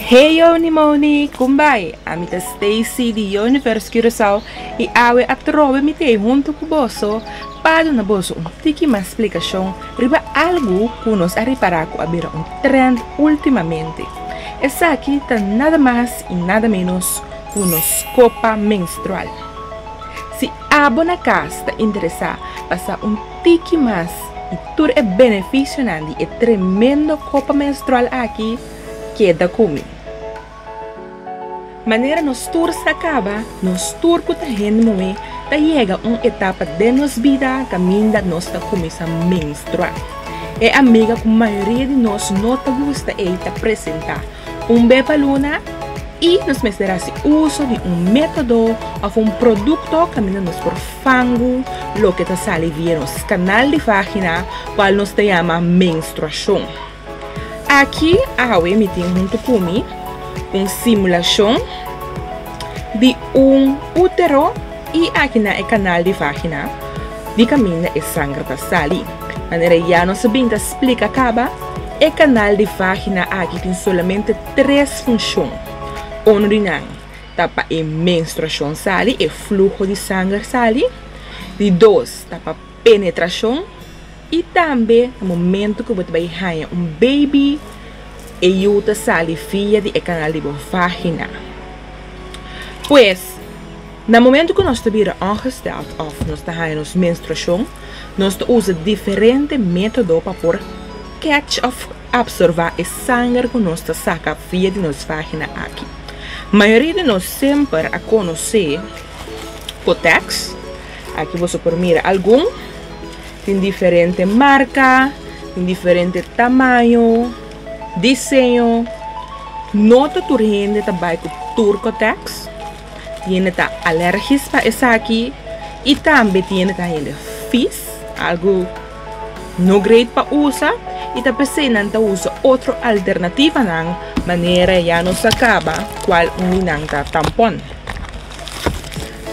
Hey Yoni Moni, Kun bai? Ami ta Stacy di Universe Curaçao i awe a trobe mi t'ei huntu ku boso pa duna boso un tiki mas splikashon riba algu ku nos a repará ku a bira un trend últimamente. Esaki ta nada mas i nada ménos ku nos kopa menstrual. Si abo na kas ta interesá pa sa un tiki mas di tur e benefisionan di e tremendo kopa menstrual aki, keda ku mi. Manera nos tur sta kaba, nos tur ku ta hende muhé ta yega un etapa den nos bida kaminda nos ta kuminsá menstruá. E amiga ku mayoria di nos no ta gusta ei ta presentá un bebbaluna i nos mester hasi uso di un método òf un produkto kaminda nos por fangu loke ta sali via nos kanal di vágina, kual nos ta yama menstruashon. Aki awe mi tin huntu cu mi un simulacion di un utero y aki na e canal di vagina di caminda e sanger ta sali. Manera ya nos a bin ta splica caba, e canal di vagina aki tin solamente tres funcion. Uno di nan ta pa e menstruacion sali, e fluho di sanger sali. Di dos ta pa. Penetrashon, i tambe na momentu ku bo ta bai haña un beibi, e yu ta sali via di e kanal di bo vágina. Pues, na momentu ku nos ta bira ongestèld òf nos ta haña nos menstruashon, nos ta usa diferente método pa por kètsh òf apsorbá e sanger ku nos ta saka via di nos vágina aki. Mayoria di nos semper a konosé kotèks. Aki boso por mira algun. Tin diferente marka, tin diferente tamaño, diseño. No ta tur hende ta bai ku tur kòtèks. Tin hende ta alèrgis pa esaki i tambe tin hende ta hende fis, algu no greit pa usa i ta p'esei nan ta usa otro alternativanan manera e ya nos a kaba kual uni nan ta tampòn.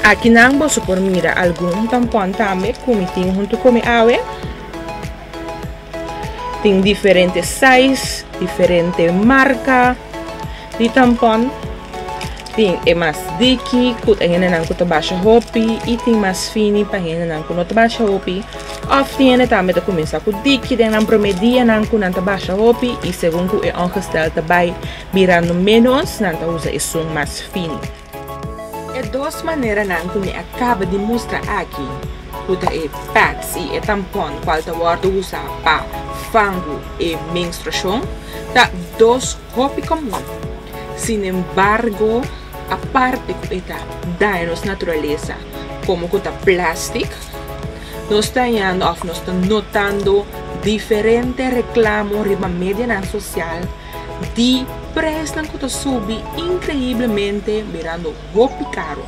Akinan boso por mira algun tampon tambe ku mi tin huntu ku mi awe. Tin diferente size, diferente marka di tampon. Tin e mas diki ku ta hendenan ku ta basha hopi i tin mas fini pa hendenan ku no ta basha hopi. Òf tin hende tambe ta kuminsá ku diki den nan promé dianan ku nan ta basha hopi i segun ku e ongestel ta bai birando ménos nan ta usa esun mas fini. E dos maneranan ku mi a kaba di mustra aki, ku ta e pads i e tampon kual ta wòrdu usa pa fangu e menstruashon, ta dos hopi komun. Sinembargo, aparte ku e ta daña nos naturalesa, komo ku ta plastic, nos ta hañando òf nos ta notando diferente reklamo riba medianan sosial, di presnan ku ta subi inkreiblemente mirando hopi karo.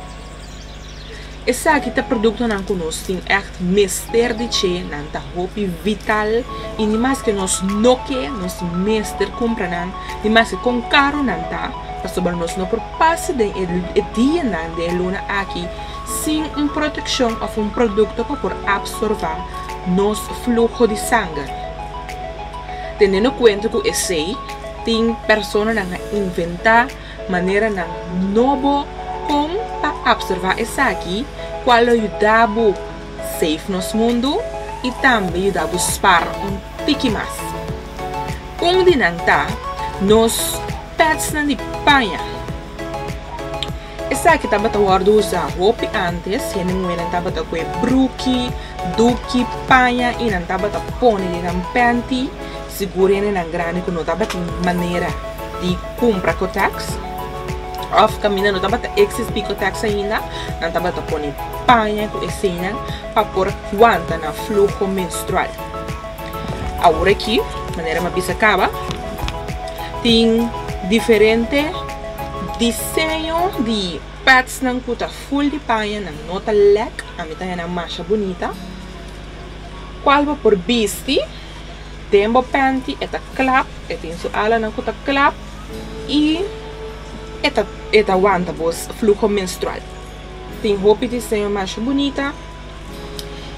Esaki ta produktonan ku nos tin ègt mester di ce, nan ta hopi vital i ni maske nos no ke, nos mester kumpra nan, ni maske kon karo nan ta, pasobra nos no por pasa den e dianan den e luna aki sin un protekshon òf un produkto ku por apsorbá nos fluho di sanger. tenendo kuenta ku esei tin personanan a inventá maneranan nobo kon pa opservá esaki kual lo yuda bo save nos mundu i tambe yuda bo spar un tiki mas. Un di nan ta nos pètsnan di paña. Esaki tabata wòrdu usá hopi ántes. Hende muhernan tabata kue bruki, duki, paña i nan tabata pone kinan pènti. Sigur hendenan grandi ku no tabatin manera di kumpra kotèks òf kaminda no tabata eksistí kotèks ainda, nan tabata pone paña ku eseinan pa por wanta nan fluho menstrual. Aworakí, manera mi a bisa kaba, tin diferente. Diseño di pads nan cu ta full di paña nan no ta lek, a mi ta hennan masha bunita. Cual bo por bisti den bo panty e ta clap, e tin su alanan cu ta clap y e ta e ta wanta bo fluho menstrual. Tin hopi diseño masha bunita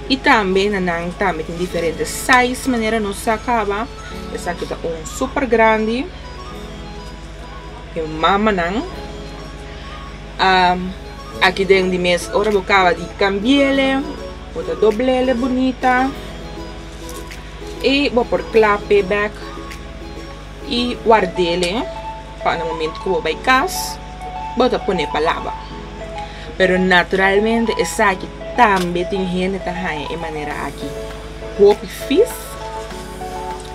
y tambe na nan tambe tin diferente size manera nos sa caba esaki ta un super grandi. Mi mamanan a aki den di mes ora bo kaba di kambiele bo ta doblele bunita i bo por kla p'e bèk i wardele pa na momentu ku bo bai kas bo ta pone pa laba pero naturalmente esaki tambe tin hende ta haña e manera aki hopi fis.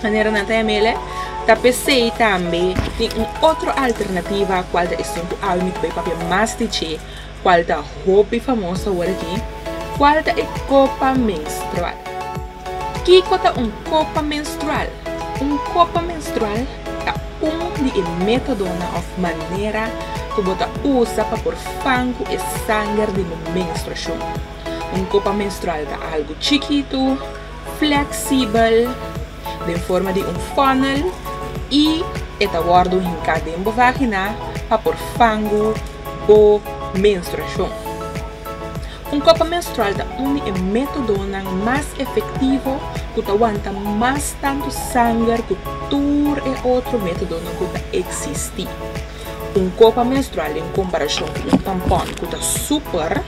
Manera nan ta yam'ele, ta p'esei tambe tin un otro alternativa kual ta e ston ku Almi ta bai papia mas di dje, kual ta hopi famos awor aki, kual ta e kopa menstrual. Kiko ta un kopa menstrual? Un kopa menstrual ta un di e métodonan òf manera ku bo ta usa pa por fan ku e sanger di bo menstruashon. Un kopa menstrual ta algu chikitu fleksibel den forma di un funnel i e ta wòrdu hinká den bo vágina pa por fangu bo menstruashon. Un kopa menstrual ta un di e métodonan mas efektivo ku ta wanta mas tantu sanger ku tur e otro métodonan ku ta eksistí. Un kopa menstrual den komparashon ku un tampòn ku ta súper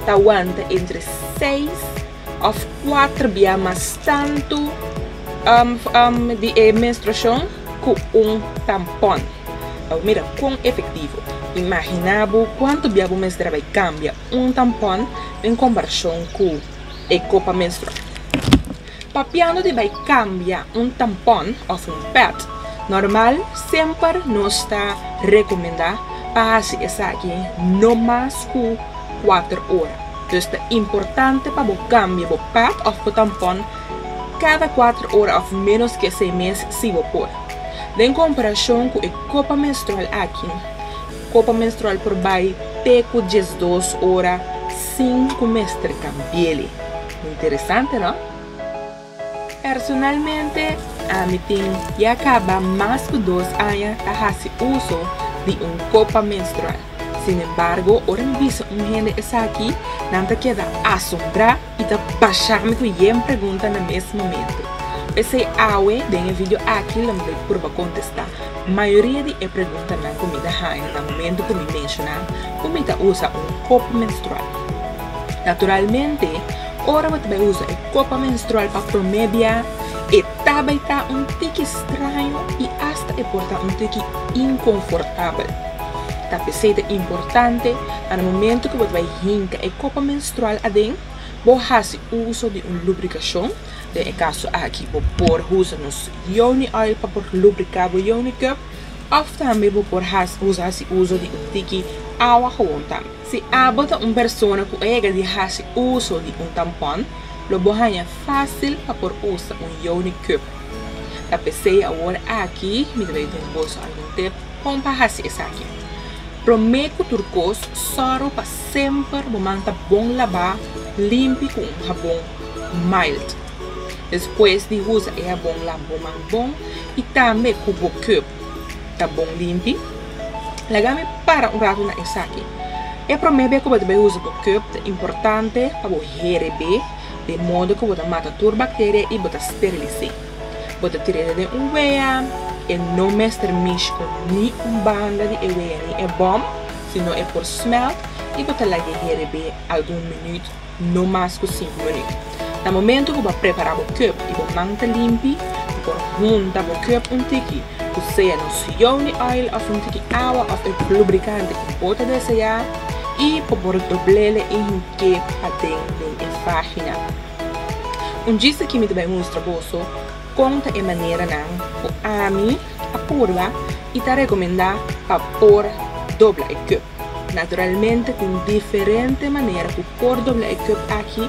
ta wanta entre seis. Of kuater bia mas tantu di e menstruashon ku un tampon. Bo mira kon efektivo. Imaginá bo kuantu bia bo mester a bai kambia un tampon den komparashon ku e kopa menstrual. Papiando di bai kambia un tampon of un pèd normal semper no sta rekomendá pa hasi esaki no mas ku kuater ora. Dus ta importante pa bo kambia bo pad òf bo tampon kada kuater ora òf ménos ke esei mes si bo por. Den komparashon ku e kopa menstrual aki, kopa menstrual por bai te ku diesdos ora sin ku mester kambi'é. Interesante, no? Personalmente, ami tin ya caba mas cu dos aña ta haci uso di un copa menstrual. Sin embargo, ora mi bisa un hende esaki, nan ta keda asombrá y ta basha mi cu yen pregunta na mes momento. P'esey awe den e video aki lo mi bai prueba contesta mayoria di e preguntanan cu mi ta haña na momento cu mi menciona cu mi ta usa un copa menstrual. Naturalmente. Ora bo ta bai usa e kopa menstrual pa promé bia, e ta bai ta un tiki straño i asta e por ta un tiki inkonfortabel. Ta p'esei ta importante pa na momentu ku bo ta bai hinka e kopa menstrual aden, bo hasi uso di un lubrikashon. Den e kaso aki bo por usa nos Yoni Oil pa por lubriká bo Yoni Cup òf tambe bo por usa hasi uso di un tiki awa howon tambe. Si abo ta un persona ku a yega di hasi uso di un tampon, lo bo haña fásil pa por usa un Youni Cup. Ta p'esei awor aki mi ta bay den boso algun tip kon pa hasi esaki. Promé ku tur kos, sòru pa semper bo man ta bon labá limpi ku un habon mild. Despues di usa e habon laba bo man bon i tambe ku bo cup. ta bon limpi. Lagami para un ratu na esaki. E promé be ku bo ta bay usa bo kòp ta importante pa bo here be den modo ku bo ta mata tur bakteria i bo ta sterilis'é. Bo ta tir'é den un wea, e no mester mish ku ni un banda di e wea ni e bòm, sino e por smèlt i bo ta lag'é here be algun minüt No mas ku sinku minüt. Na momentu ku bo a prepará bo kòp i bo man ta limpi, bo por hunta bo kòp un tiki ku sea nos Yeo ni Oil òf un tiki awa òf e lubrikante ku bo ta deseá i bo por dobl'e i hink'e paden den e vágina. Un djis aki mi ta bai mustra boso kon ta e maneranan ku ami a purba i ta rekomendá pa por dobla e kòp. Naturalmente tin diferente manera ku por dobla e cup aki,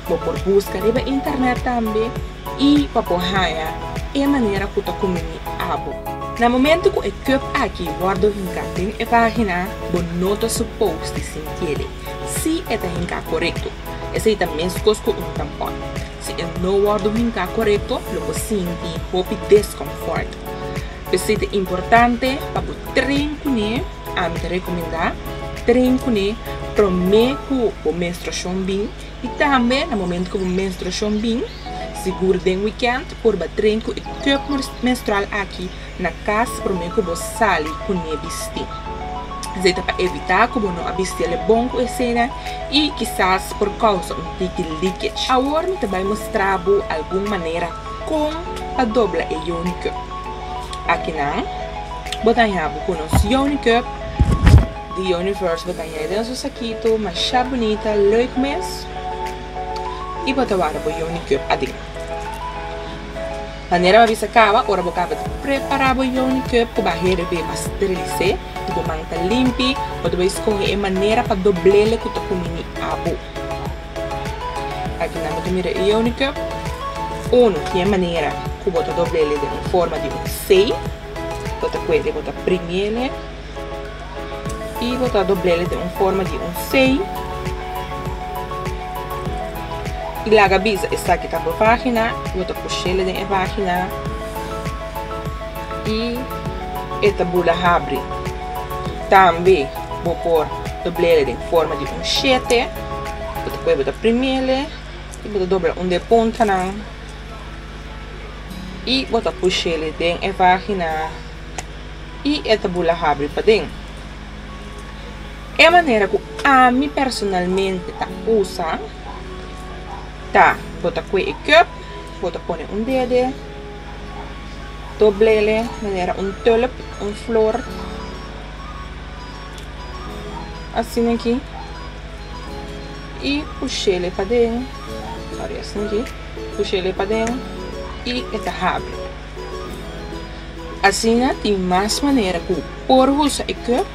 bo por buska riba internet tambe i pa por haña e manera ku ta kuminí abo. Na momento ku e cup aki wòrdu hinká den e página, bo no ta supos di sintiéde si e ta hinká korekto. Esei ta meskos ku un tampòn, si e no wòrdu hinká korekto lo por sinti hopi deskonfòrt. P'esei ta importante pa bo tren kuné. Ami ta rekomendá tren kuné promé ku bo menstruashon bin i tambe na momentu ku bo menstruashon bin. Sigur den wikènt purba tren ku e kòp menstrual aki na kas promé ku bo sali kuné bisti. Esei ta pa evitá ku bo no a bisti alé bon ku eseinan i kisas por kousa un tiki leakage. Awor mi ta bai mustra bo algun manera. Kon pa dobla e Yonicup? Akinan bo ta haña bo ku nos Yonicup di Yoniverse. Bo ta haña e den su sakito masha bunita, leuk mes i bo ta wara bo Yonicup aden. Manera bo a bisa kaba, ora bo kaba di prepara bo Yonicup ku bo a herbi bo a sterilis'é i bo manta limpi, bo ta bai skohe e manera pa dobl'é loke ku ta kuminí abo. Aki nan bo ta mira e Eunikep unu, kier manera ku bo ta dobl'e den un forma di un C, bo ta kue'le bo ta primie'le i bo ta dobl'e den un forma di un C i laga bisa esaki ta bo página, bo ta pushe'le den e página i e ta bula habri, tambe bo por dobl'e den forma di un shete. Bo ta kohe bo ta primele y bo ta dobla un den puntanan y bo ta pushele den e vagina y e ta bula habri paden e manera cu ami personalmente ta usa ta bo ta coe e cup bo ta pone un dede doblele manera un tulip un flor Asina aki. Y pushele paden. Sorry, asina aki. Pushele paden. Y e ta habri. Asina tin mas manera cu por usa e cup,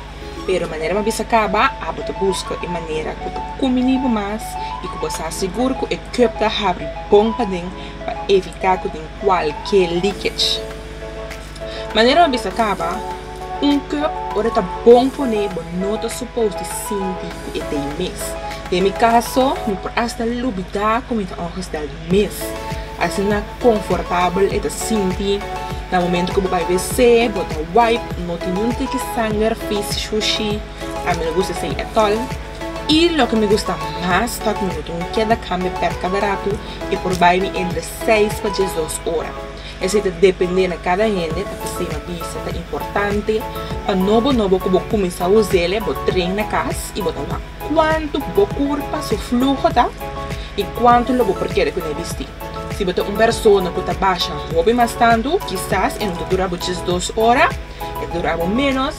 pero manera mi bisa caba, abo ta busca e manera cu ta cuminibo mas y cu bo sa sigur cu e cup ta habri bon paden pa evita cu tin cualkier leakage. Manera mi bisa kaba, un cup ora ta bon pone bo no ta suppose di sinti ku e ta e mes. Den mi kaso, mi por hasta lubidá ku mi ta ongestel di mes. Asina konfortabel e ta sinti. Na momento ku bo bai wc, bo ta wipe, no tin niun tiki sanger, vis, shushi. A mi no gusta esei etol. I loke mi gusta mas ta ku mi no tin un keda kambia pèt kada ratu, e por bai mi entre seis pa diesdos ora. Esei ta dependé na kada hende ta stima bisa. Ta importante pa nobo nobo ku bo kuminsá us'el bo tren na kas i bo ta wak kuantu ku bo kurpa su fluho ta i kuantu lo bo por keda kuné bistí. Si bo ta un persona ku ta basha hopi mas tantu kisas e no ta dura bo djes dos ora, e ta dura bo ménos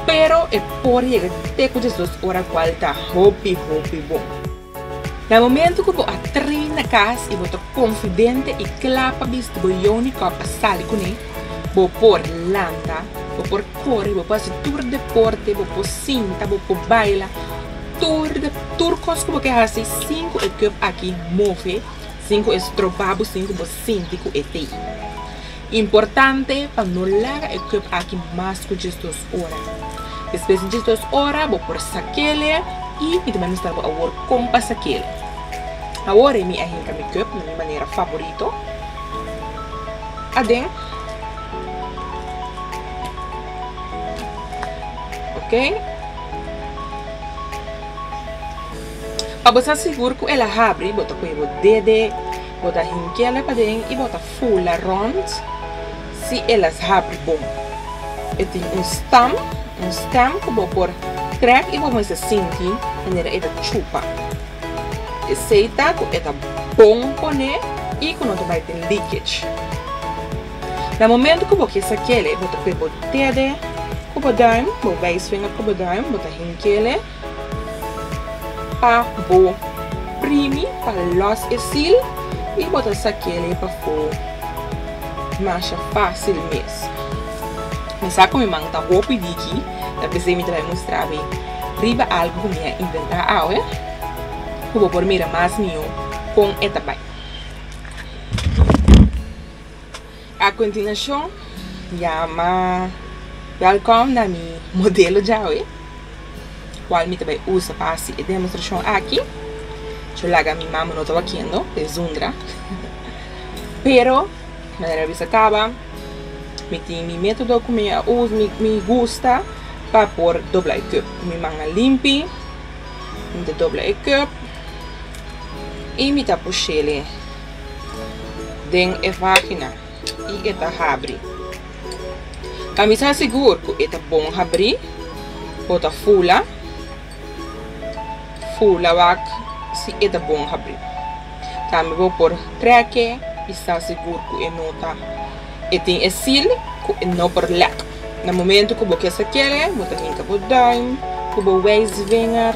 pero e por yega te ku djes dos ora kual ta hopi hopi bon. Na momentu ku bo a trin na kas i bo ta konfidente i kla pa bis ku bo youni kòp pa sali kuné, bo por lanta, bo por kore, bo por hasi tur deporte, bo por sinta, bo por baila, tur de tur kos ku bo ke hasi sin ku e kòp aki move, sin ku e stroba bo, sin ku bo sinti ku e ta importante pa no laga e kòp aki mas ku djis dos. ora. Despues di dje dos ora bo por sakele y mi ta ministra bo awor con pa sakele. Awor e mi a hinca mi cup na mi manera favorito aden. Ok. Pa bo sa sigur cu el a habri bo ta coge bo dede, bo ta hinkele paden y bo ta. Fula rond si e las habri bon. E tin un stam, un stem, ku bo por trek i bo mester sinti manera e ta chupa. Esei ta ku e ta bon poné i ku no ta bai tin leakage. Na momentu ku bo ke sa kele, bo ta p'e botede ku bo duim, bo bai swinger ku bo duim, bo ta hinki ele. Pa bo primi pa los e sil y bo ta sakel'e pafo masha facil mes. Mi sa cu mi man ta hopi diki, ta p'esey mi ta bay mustra mi riba algo cu mi a inventa awe cu bo por mira mas miyo con e ta bay. A continuacion, yama Welcome na mi modelo djawe, cual mi ta bay usa pa haci e demostracion aki. Cho laga mi mama no ta wakiendo, e zundra. Pero, manera bisa caba, mi tin mi metodo cu mi a usa, mi, mi gusta pa por dobla e cup. Cu mi man a limpi, mi ta dobla e cup y mi ta pushele. den e vagina y e ta habri. Pa mi sa sigur cu e ta bon habri o ta fula, fula wak si e ta bon habri. Tambe bo por treke y sa sigur cu e no ta e tin e sil cu e no por lek. Na momento cu bo kier sa kere bo ta hinca bo duim cu bo wijsvinger.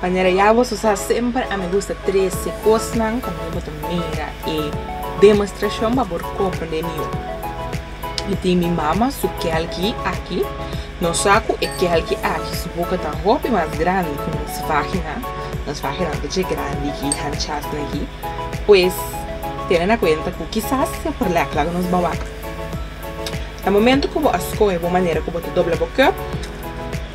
Manera ya boso sa semper a mi gusta trece cosnan cu mi bo ta mira e demostracion pa por comprende mi yo. Mi tin mi mama su kelki aki, nos sa cu e kelki aki su boca ta hopi mas grandi cu nos vagina, nos vagina ta dje grandi aki hanchasnan aki, pues tene na cuenta cu kisas e por lek laga nos bawaca. Na momento cu bo a scohe bo manera cu bo ta dobla bo cup,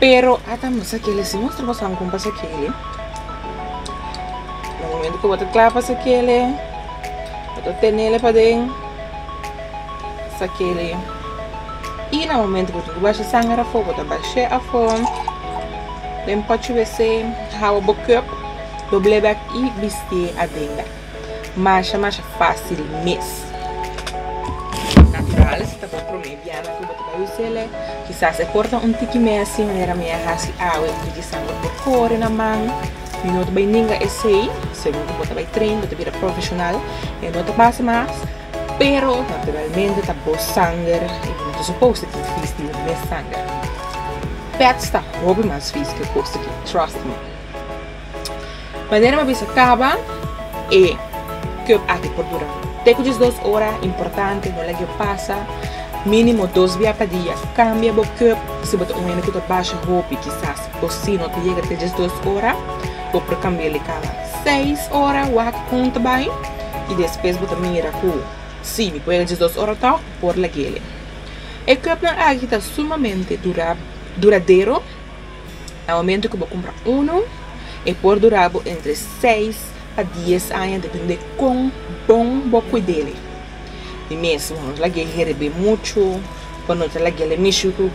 Pero a ta masa kele si nos ta masa un kompas a kele na momento ku bo ta kla pa sa kele bo ta tenele paden sa kele i na momento ku bo tin ku basha sanger afo bo ta bash'e afo den pochi wc hawa bo kòp dobl'e bèk i bistié adenda. Masha masha fácil mes. Natural si ta bo promé bianan ku bo ta bai us'e, kisas e por ta un tiki mesi manera mi a hasi awe un tiki sangre por kore na man. Mi no ta bai ninga esei, segun ku bo ta bai train, bo ta bira profeshonal, e no ta pasa mas, pero naturalmente ta bo sanger i bo no ta supos di tin fis di bo mes sanger. Pèts ta hopi mas fis ku e kos aki, trust me. Manera mi a bisa kaba e cup aki por dura te ku diesdos ora, importante no lagi'e pasa, minimo dos bia pa dia, kambia bo cup si bo ta un hende ku ta basha hopi kisas o si no ta yega te diesdos ora bo por kambia di kaba seis ora wak kon ta bai i despues bo ta mira ku si mi por yega diesdos ora to mi por lagi'e e cup nan aki ta sumamente dura duradero. Na momento ku bo kumpra unu e por dura bo entre seis pa dies aña depende kon bon bo kuid'e. Di mes bo no lag'e herib'e muchu, bo no ta lag'e'le mishi ku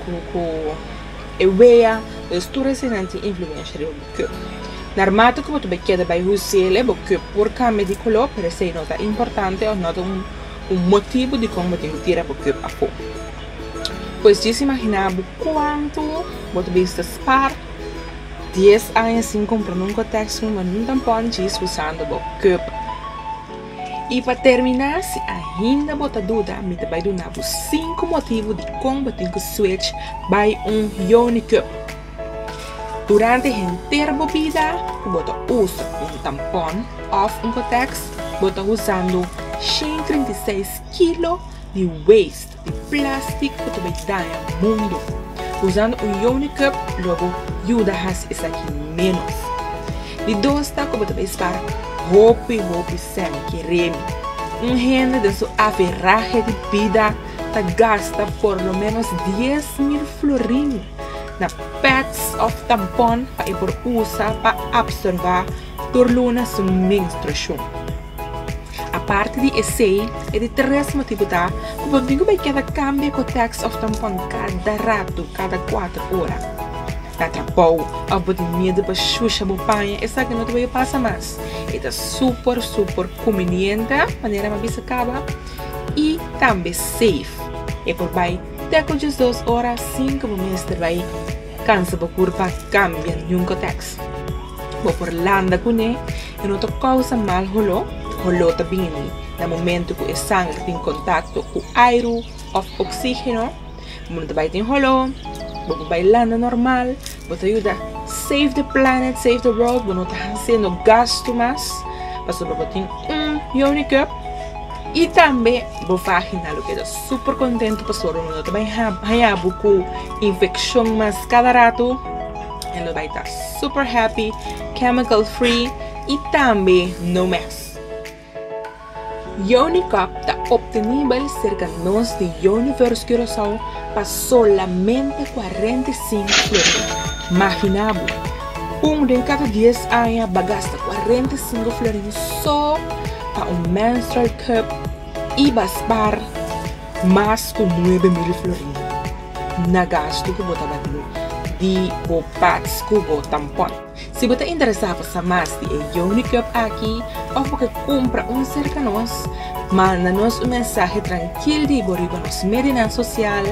e wea, dus tur eseinan tin influensha riba bo keu. Narmata ku bo ta bai keda bai huse'le bo keu por kambia di koló pero esei no ta importante òf no ta un motibu di kon bo tin tira bo keu apo. Pues djis imaginá bo kuantu bo ta bisa ta spar dies aña sin kumpra nunka tèks nu, ma nu ta pon djis usando bo keup. I pa terminá si ainda bo ta duda mi ta bai duna bo sinku motibu dikon bo tin ku switch bai un Yonikeup. Durante henter bo bida ku bo ta usa un tampon òf un kotèks bo ta usando shen trinta i seis kilo di weist. Plastic cu ta bay daña mundo. Usando un Yoni cup lo bo yuda haci esaki menos. Di dos ta cu bo ta bay spara hopi hopi semi ke remi. Un hende den su aferrahe di bida ta gasta por lo menos dies mil florin na pads of tampon pa e por usa pa absorba tur luna su menstruacion. Aparte di esei, e di tres motibu ta ku bo nigu bai keda kambia ku tèks òf tampon kada ratu, kada kuater ora. Ta trabou òf bo tin miedu pa shusha bo paña esaki no ta bai a pasa mas. E ta super super kumbiniente manera mi a bisa kaba i tambe safe. E por bai te ku diesdos ora sin ku bo mester bai kansa bo kurpa kambia nunka tèks. Bo por landa kuné i no ta kousa mal holó. Holó ta bini na momentu ku e sanger tin kontakto ku airu òf oksígeno. Bo no ta bai tin holó, bo por bai landa nòrmal. Bo ta yuda save the planet, save the world. Bo no ta hasiendo gastu mas pasobra bo tin un Yoni Cup. I tambe bo vágina lo keda súper kontentu pasobra bo no ta bai haña bo ku infekshon mas kada ratu. En lo bai ta super happy, chemical free y tambe no mes. Yoni Cup ta obtenibel cerca nos di Universe Curaçao pa solamente cuarenta y cinco florin. Magina bo, un den cada dies aña ba gasta cuarenta y cinco florin so pa un menstrual cup y ba spaar mas cu nuebe mil florin. na gastu ku bo tabatin di bo pats ku bo tampon. Si bo ta interesá pa sa mas di e Yoni Club aki òf bo ke kumpra un serka nos, manda nos un mensahe trankil di bo riba nos medianan sosial,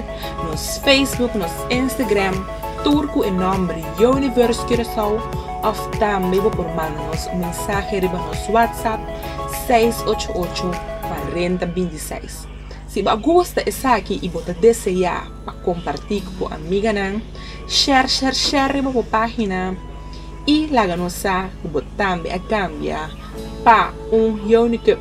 nos Facebook, nos Instagram, tur ku e nòmber Yoniverse Curaçao òf tambe bo por manda nos un mensahe riba nos WhatsApp seis ocho ocho, kuarenta binti seis. Si bo a gusta esaki y bo ta desea pa comparti cu bo amiganan, share share share riba bo pagina y laga nos sa cu bo tambe a cambia pa un Younicup.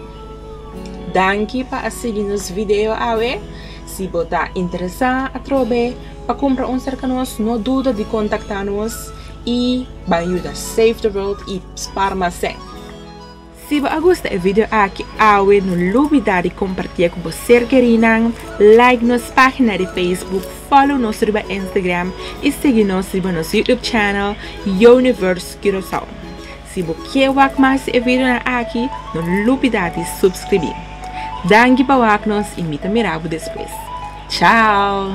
Danki pa a sigui nos video awe. Si bo ta interesa atrobe pa cumpra un serca nos no duda di contacta nos y ban yuda save the world y spar mas sen. Si bo a gusta e video aki awe no lubida di kompartia ku bo ser kerí nan, like nos página di Facebook, follow nos riba Instagram i sigui nos riba nos YouTube channel Universe Curaçao. Si bo ke wak mas di e videonan aki no lubida di supskribí. Danki pa wak nos i mi ta mira bo despues. Chao!